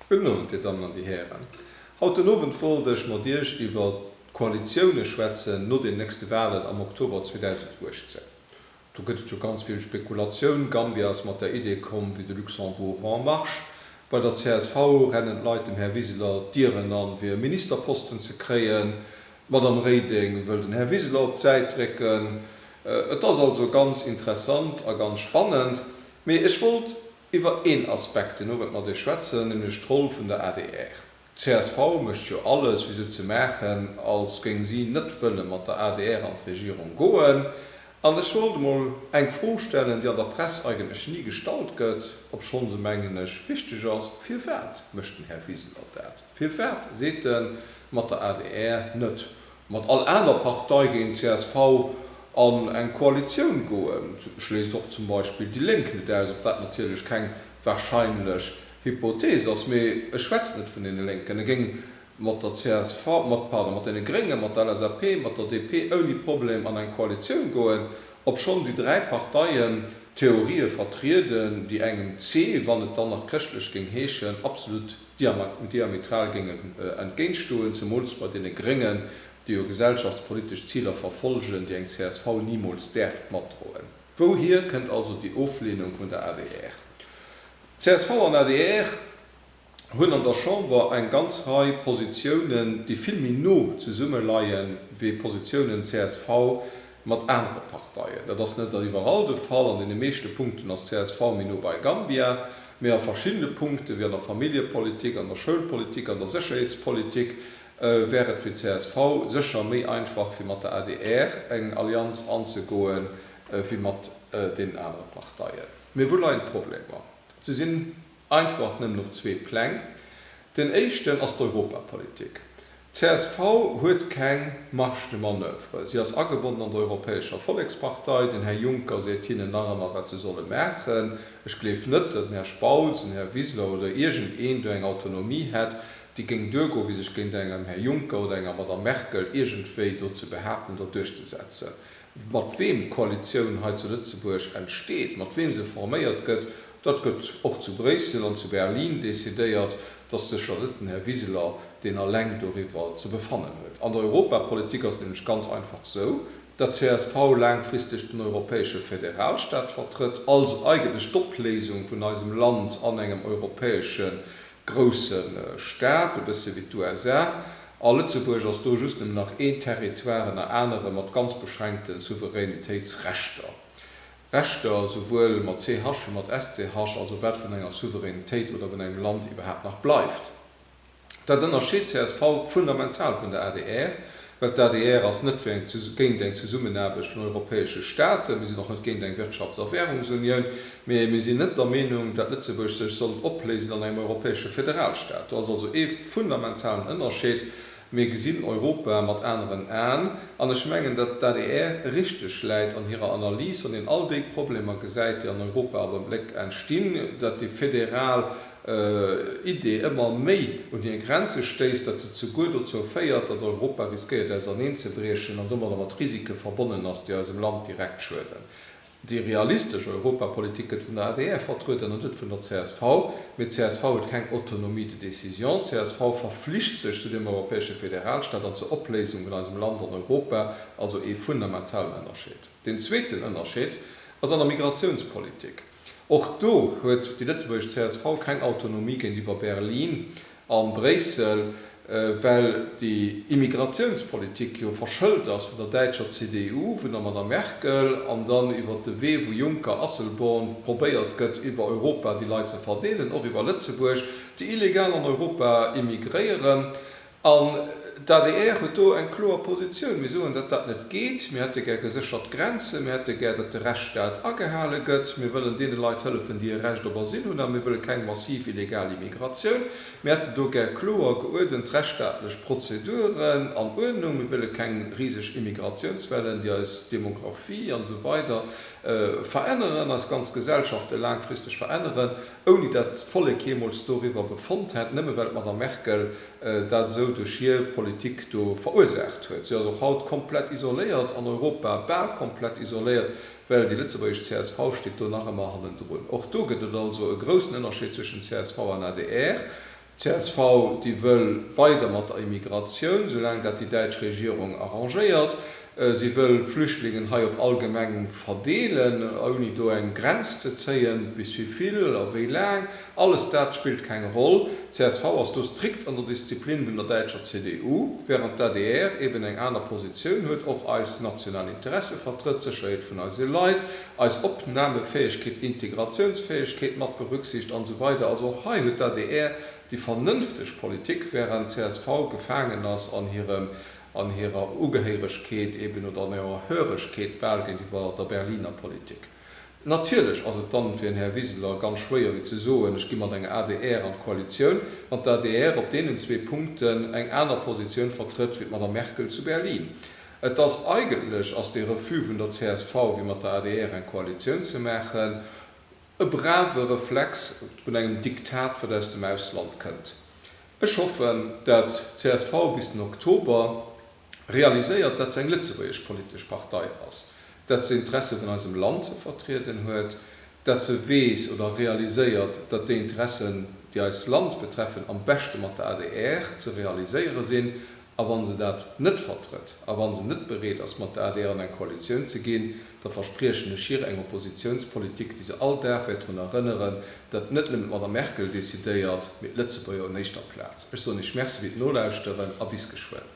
Gudden Owend, Dir Dammen an Dir Hären. Haut den Owend wollt ech mat Iech iwwer d'Koalitioune schwätzen no den nächste Wahlen am Oktober 2018. Do gëtt et jo ganz vill Spekulatioun. Gambia ass mat der Idee komm, vue de Luxembourg en marche! Bei der csv rennen d'Leit dem Här Wiseler d'Dieren an, fir e Ministerposten ze kréien. D'Madame Reding wëll den Här Wiseler op d'Säit drécken. Et ass also ganz interessant a ganz spannend. Mee ech wollt Iwwer een Aspekt, deen Owend mat Iech schwätzen, nämlech d'Roll vun der adr. D'CSV mécht jo alles, fir esou ze maachen, als géing si net wëlle mat der adr an d'Regierung goen. An ech wollt emol eng Fro stellen, déi an der Press eigentlech ni gestallt gëtt, obschonn se, mengen ech, wichteg ass, Firwat mécht den Här Wiseler dat? Firwat seet en, mat der adr net? mat all aner Partei géint csv an eng Koalitioun goen, schléisst och zum Beispill déi Lénk net aus, ob dat natierlech keng warscheinlech Hypothees ass, mee ech schwätzen net vun deene Lénken, e géing mat der csv, mat, pardon, mat deene Gréngen, mat der LSAP, mat der DP ouni Problem an eng Koalitioun goen, obschonn déi dräi Parteien Theorië vertrieden, déi engem c, wann et dann nach chrëschtlech géing heeschen, absolut. diametral géingen entgéintstoen, zemools bei deene Gréngen, déi jo gesellschaftspolitesch Ziler verfolgen, déi eng csv nimools däerft matdroen. Wouhier kënnt also déi Ofleenung vun der adr? Csv an adr hunn an der Chamber eng ganz Rei Positiounen, déi vill méi no zesumme leien, wéi Positiounen csv mat anere Parteien. Dat ass net iwwerall de Fall. An deene meeschte Punkten ass csv méi no bei Gambia, mee a verschiddene Punkte wéi an der Familljepolitik, an der Schoulpolitik, an der Sécherheetspolitik wär et fir csv sécher méi einfach fir mat der adr eng Allianz anzegoe wéi mat deenen anere Parteien. Mee wou leien d'Problemer? Se sinn. einfach nëmmen op zwee Pläng. Den éischten ass d'Europapolitik. D'CSV huet keng Marge de manoeuvre. Si ass agebonnen an der Europäescher Vollekspartei. Den Här Juncker seet hinnen nach ëmmer, wat se solle maachen. Ech gleef net, datt den Här Spautz, den Här Wiseler oder iergend een do eng Autonomie hätt, déi géing duergoen, fir sech géint engem Här Juncker oder enger Madame Merkel iergendwéi do ze behaapten oder duerchzesetzen. Mat weem d'Koalitioun hei zu Lëtzebuerg entsteet, mat weem se forméiert gëtt, dat gëtt och zu Bréissel an zu Berlin decidéiert. Et ass sécher net den Här Wiseler, deen alleng doriwwer ze befannen huet. An der Europapolitik ass et nämlech ganz einfach esou, dat csv laangfristeg den europäesche Federalstaat vertrëtt, also eigentlech d'Opléisung vun eisem Land an engem europäesche grousse Staat, e bësse wéi d'USA, a Lëtzebuerg ass do just nëmmen nach een Territoire ënner anere mat ganz beschränkte Souveränitéitsrechter, Rechter souwuel mat ch wéi mat sch, also wat vun enger Souveränitéit oder vun engem Land iwwerhaapt nach bleift. Dat ënnerscheet csv fundamental vun der adr. Well d'ADR ass net fir eng, géint eng Zesummenaarbecht vun europäesche Staaten, mir sinn och net géint eng Wirtschafts a Währungsunioun, mee mir sinn net der Meenung, dat Lëtzebuerg sech soll opléisen an engem europäesche Federalstaat. Do ass also ee fundamentalen Ënnerscheed. Mir gesinn Europa mat aneren Aen an ech mengen, dat d'ADR richteg läit an hirer Analys, wann een all déi Problemer gesäit, déi an Europa am Abléck entstinn, dat déi federal Idee ëmmer méi un hir Grenze stéisst, datt se zuguer dozou féiert, datt Europa riskéiert auserneenzebriechen an domadder mat Risike verbonnen ass, déi eisem Land direkt schueden. Déi realistesch Europapolitik gëtt vun der adr vertrueden an net vun der csv. Mee csv huet keng Autonomie de décision. Csv verflicht sech zu deem europäesche Federalstaat an zur Opléisung vun eisem Land an Europa, also ee fundamentalen Ënnerscheed. Deen zweeten Ënnerscheed ass an der Migratiounspolitik. Och do huet déi lëtzebuergesch csv keng Autonomie géintiwwer Berlin a Bréissel, well déi Immigratiounspolitik jo verschëlt ass vun der däitscher CDU, vun der Madame Merkel, an dann iwwer de Wee wou Juncker, Asselborn, probéiert gëtt iwwer Europa déi Leit ze verdeelen, och iwwer Lëtzebuerg, déi illegal an Europa immigréieren. An d'ADR huet do eng kloer Positioun. Mir soen, datt dat net geet. Mir hätte gär geséchert Grenzen. Mir hätte gär, datt de Rechtsstaat agehale gëtt. Mir wëllen deene Leit hëllefen, déi e Recht op Asyl hunn. A mir wëlle keng massiv illegal Immigratioun. Mir hätten do gär kloer, geuerdent rechtsstaatlech Prozeduren an Uerdnung. Mir wëlle keng riseg Immigratiounswellen, déi eis Demographie an esou weider veränneren, eis ganz Gesellschafte laangfristeg veränneren. ouni dat d'Vollek jeemools doriwwer befonnt hätt, nëmme well d'Madame Merkel dat esou duerch hir Politik do verursaacht huet. Si ass och haut komplett isoléiert, an Europa bal komplett isoléiert, well déi lëtzebuergesch csv steet do nach ëmmer hannendrun. Och do gëtt et also e groussen Ënnerscheed zwëschen csv an adr. Csv, déi wëll weider mat der Immigratioun, soulaang dat déi däitsch Regierung arrangéiert. Si wëll d'Flüchtlingen hei op all Gemeng verdeelen, ouni do eng Grenz ze zéien, bis wéi vill a wéi laang. Alles dat spillt keng Roll. Csv ass do strikt an der Disziplin vun der däitscher CDU, während d'ADR eben eng aner Positioun huet, och eis national Interesse vertrëtt, d'Sécherheet vun eise Leit, eis Opnamefäegkeet, Integratiounsfäegkeet mat berücksicht an esou weider Also och hei huet d'ADR déi vernënfteg Politik, während d'CSV gefaangen ass an hirem, an hirer Ugehéiregkeet eben oder an hirer Höregkeet bal géintiwwer der Berliner Politik. Natierlech ass et dann fir den Här Wiseler ganz schwéier wéi ze soen, ech gi mat enger adr an d'Koalitioun, wann d'ADR op deenen zwee Punkten eng aner Positioun vertrëtt wéi d'Madame Merkel zu Berlin. Et ass, eigentlech ass dee Refus vun der csv, fir mat der adr eng Koalitioun ze maachen, e brave Reflex vun engem Diktat, wat aus dem Ausland kënnt. Ech hoffen, dat csv bis den Oktober realiséiert, dat se eng lëtzebuergesch politesch Partei ass, dat se Interesse vun eisem Land ze vertrieden huet, dat se weess oder realiséiert, dat déi Interessen, déi eist Land betreffen, am beschte mat der adr ze realiséiere sinn A wa se dat net vertrëtt a wa se net bereet ass, mat der adr an eng Koalitioun ze ginn, da verspriechen ech hir eng Oppositiounspolitik, déi se all Dag wäert drun erënneren, datt net nëmmen d'Madame Merkel decidéiert, mee d'Lëtzebuerger un éischter Plaz. Ech soen Iech Merci fir d'Nolauschteren a bis geschwënn.